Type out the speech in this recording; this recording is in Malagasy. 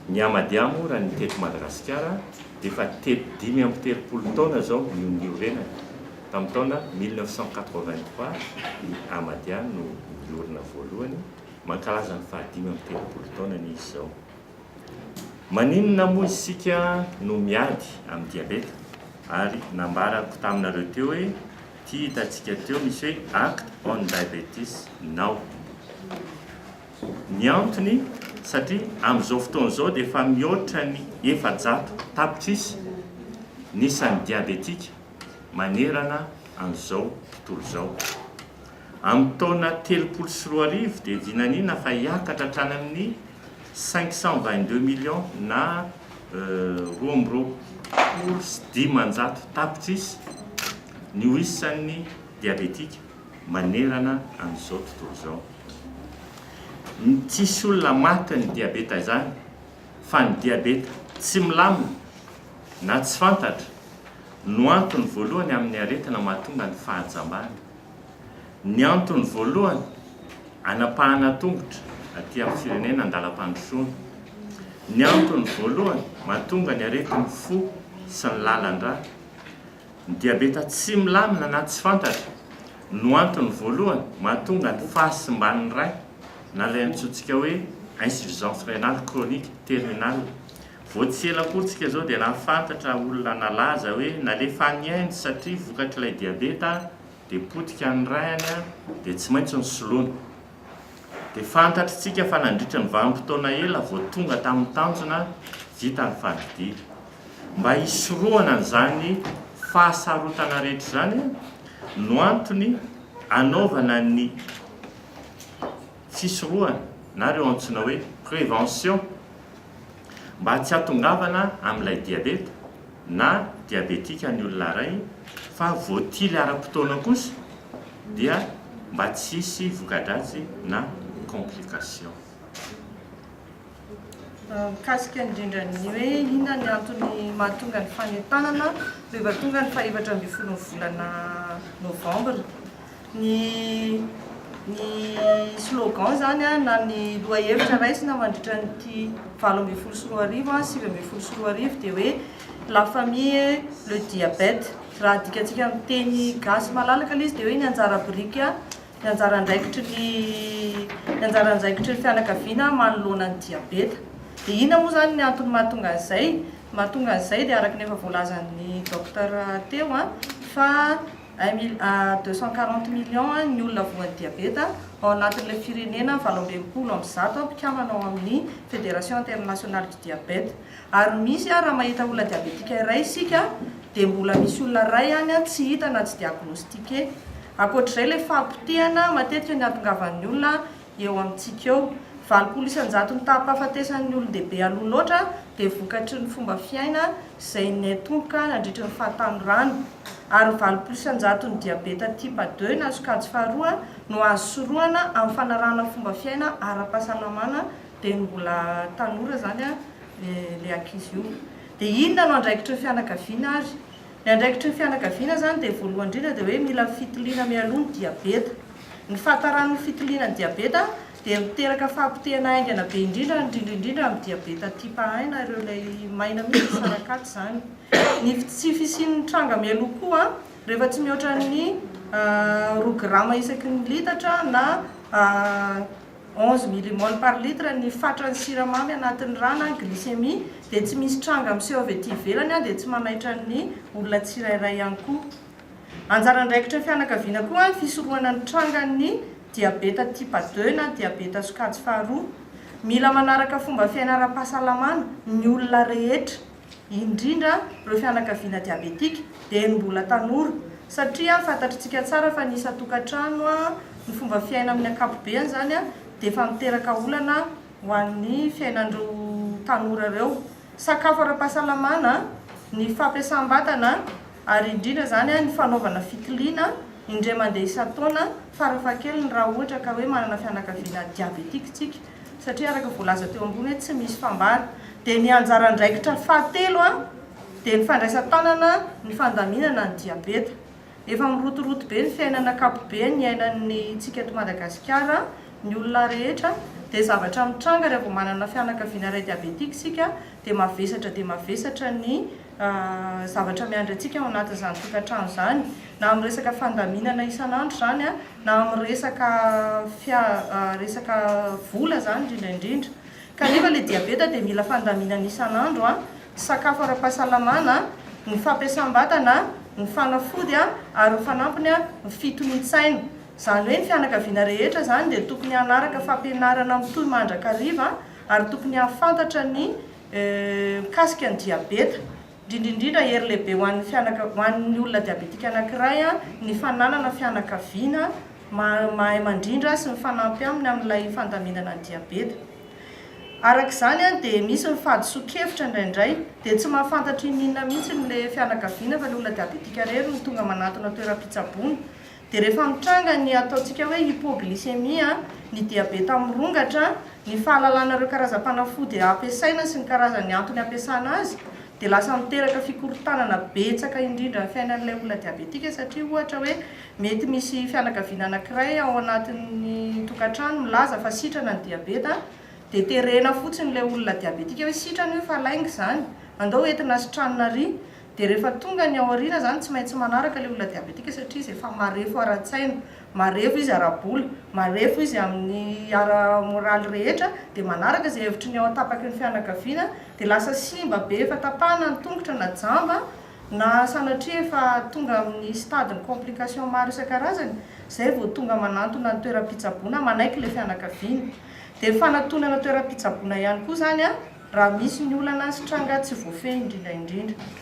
Ny Ahmadiyya moa raha ny teto Madagasikara dia efa tety dimy amby telopolo taona izao no niorenany. Tamin'ny taona mille neuf cent quatre-vingt-trois ny Ahmadiyya no niorina voalohany, mankalaza ny fahadimy amby telopolo taonany izy izao. Maninona moa isika no miady amin'ny diabeta? Ary nambarako taminareo teo hoe ity hitantsika teo misy hoe Act on Diabetes Now. Ny antony, satria amin'izao fotoana izao dia efa mihoatra ny efajato tapitrisa ny isan'ny diabetika manerana an'izao tontolo izao. Amin'ny taona telopolo sy roa arivo dia vinaniana fa hiakatra hatrany amin'ny cinq cent vingt deux millions na roa amby roapolo sy dimanjato tapitrisa ny ho isan'ny diabetika. manerana an'izao tontolo izao. Tsisy olona maty ny diabeta izany fa ny diabeta tsy milamina na tsy fantatra no antony voalohany amin'ny aretina mahatonga ny fahajambana. Ny antony voalohany anapahana tongotra aty amin'ny firenena an-dalam-pandrosoana. Ny antony voalohany mahatonga ny aretin'ny fo sy ny lalan-drà. Ny diabeta tsy milamina na tsy fantatra no antony voalohany mahatonga ny fahasimban'ny ray na ilay antsointsika hoe insuffisance rénale chronique terminale. Vao tsy ela akory tsika izao dia nahafantatra olona nalaza hoe nalefa any Inde satria vokatr'ilay diabeta dia potika ny rayany dia tsy maintsy nosoloana. dia fantatr'itsika fa nandritra ny vanim-potoana ela vao tonga tamin'ny tanjona vita ny fandidiana. Mba hisorohana an'izany fahasarotana rehetra izany no antony anaovana ny fisorohana na ireo antsoina hoe prévention. Mba tsy hatongavana amin'ilay diabeta na diabetika ny olona iray fa voatily ara-potoana kosa dia mba tsy hisy voka-dratsy na complication. Mikasika indrindra ny hoe inona ny antony mahatonga ny fanentanana rehefa tonga ny fahefatra ambin'ny folo ny volana novambra. ny ny slogan izany an, na ny lohahevitra raisina mandritra an'ity valo ambin'ny folo sy roa arivo an, sivy ambin'ny folo sy roa arivo dia hoe La famille et le diabète. Raha adikatsika amin'ny teny gasy malalaka ilay izy dia hoe ny anjara biriky an, ny anjara andraikitry ny ny anjara andraikitry ny fianakaviana manoloana ny diabeta. Dia inona moa izany ny antony mahatonga an'izay? Ny mahatonga an'izay dia araka ny efa voalazan'ny docteur teo an, fa Un mil à deux cent quarante millions ny olona voan'ny diabeta ao anatin'ilay firenena valo amby enimpolo amby zato mpikambana ao amin'ny Fédération Internationale du Diabète. Ary misy raha mahita olona diabetika iray isika dia mbola misy olona iray any tsy hita na tsy diagnostiquer. Ankoatr'izay ilay fahapotehana matetika niatongavan'ny olona eo amintsika eo. Valopolo isan-jato ny taham-pahafatesan'ny olon-dehibe aloha loatra dia vokatry ny fomba fiaina izay niaitomboka nandritry ny fahatanorana, ary valopolo isan-jaton'ny diabeta type deux na sokajy faharoa no azo sorohana amin'ny fanarahana fomba fiaina ara-pahasalamana dia ny mbola tanora izany ilay ankizy io. Dia inona no andraikitry ny fianakaviana ary? Ny andraikitry ny fianakaviana izany dia voalohany indrindra dia hoe mila fitiliana mialoha ny diabeta. Ny fahatarany ny fitiliana ny diabeta dia miteraka fahapotehana haingana be indrindra indrindra indrindra amin'ny diabeta type un na ireo ilay maina mihitsy ny sarak'aty izany. Ny tsy fisian'ny tranga mialoha koa rehefa tsy mihoatra ny roa grama isaky ny litatra na 11 millimol par litre ny fatran'ny siramamy anatin'ny ra na glycémie dia tsy misy tranga miseho avy ety ivelany dia tsy manaitra ny olona tsirairay ihany koa. Anjara andraikitry ny fianakaviana koa ny fisorohana ny trangan'ny diabeta type deux na diabeta sokajy faharoa. Mila manaraka fomba fiaina ara-pahasalamana ny olona rehetra. indrindra ireo fianakaviana diabetika dia ny mbola tanora satria fantatritsika tsara fa ny isan-tokantrano ny fomba fiaina amin'ny ankapobeany izany dia efa miteraka olana ho an'ny fiainan'ireo tanora ireo sakafo ara-pahasalamana ny fampiasam-batana ary indrindra izany ny fanaovana fitiliana indray mandeha isan-taona farafahakeliny raha ohatra ka hoe manana fianakaviana diabetika isika satria araka voalaza teo ambony hoe tsy misy fambara, dia ny anjara andraikitra fahatelo dia ny fandraisan-tanana ny fandaminana ny diabeta. Efa mirotoroto be ny fiainana ankapobe niainan'ny tsika eto Madagasikara, ny olona rehetra, dia zavatra mitranga raha vao manana fianakaviana iray diabetika isika dia mavesatra dia mavesatra ny zavatra miandry antsika ao anatin'izany tokantrano izany na amin'ny resaka fandaminana isan'andro izany na amin'ny resaka fia resaka vola izany indrindra indrindra kanefa ilay diabeta dia mila fandaminana isan'andro an, sakafo ara-pahasalamana an, ny fampiasam-batana an, ny fanafody an, ary ny fanampiny an, ny fitonian-tsaina. Izany hoe ny fianakaviana rehetra izany dia tokony hanaraka fampianarana mitohy mandrakariva an, ary tokony hahafantatra ny mikasika ny diabeta. Indrindra indrindra, hery lehibe ho an'ny fianaka, ho an'ny olona diabetika anankiray ny fananana fianakaviana maha, mahay mandrindra sy mifanampy aminy amin'ilay fandaminana ny diabeta. Araka izany dia misy ny fahadisoan-kevitra indraindray, dia tsy mahafantatra inona mihitsy ilay fianakaviana fa ilay olona diabetika irery no tonga manatona toeram-pitsaboana, Dia rehefa mitranga ny ataontsika hoe hypoglycémie, ny diabeta mirongatra, ny fahalalana ireo karazam-panafody ampiasaina sy ny karazan'ny antony ampiasana azy dia lasa miteraka fikorontanana betsaka indrindra ny fiainan'ilay olona diabetika satria ohatra hoe mety misy fianakaviana anakiray ao anatin'ny tokantrano milaza fa sitrana ny diabeta dia terena fotsiny ilay olona diabetika hoe sitrana io fa lainga izany andao entina sitranina ary Dia rehefa tonga ny ao aoriana izany tsy maintsy manaraka ilay olona diabetika satria izy efa marefo ara-tsaina, marefo izy ara-bola, marefo izy amin'ny ara-moraly rehetra dia manaraka izay hevitry ny ao an-tapaky ny fianakaviana dia lasa simba be efa tapahana ny tongotra na jamba na sanatria efa tonga amin'ny stade ny complication maro isan-karazany izay vao tonga manantona ny toeram-pitsaboana manaiky ilay fianakaviana dia fanatonana toeram-pitsaboana ihany koa izany raha misy ny olana sy tranga tsy voafehy indrindra indrindra.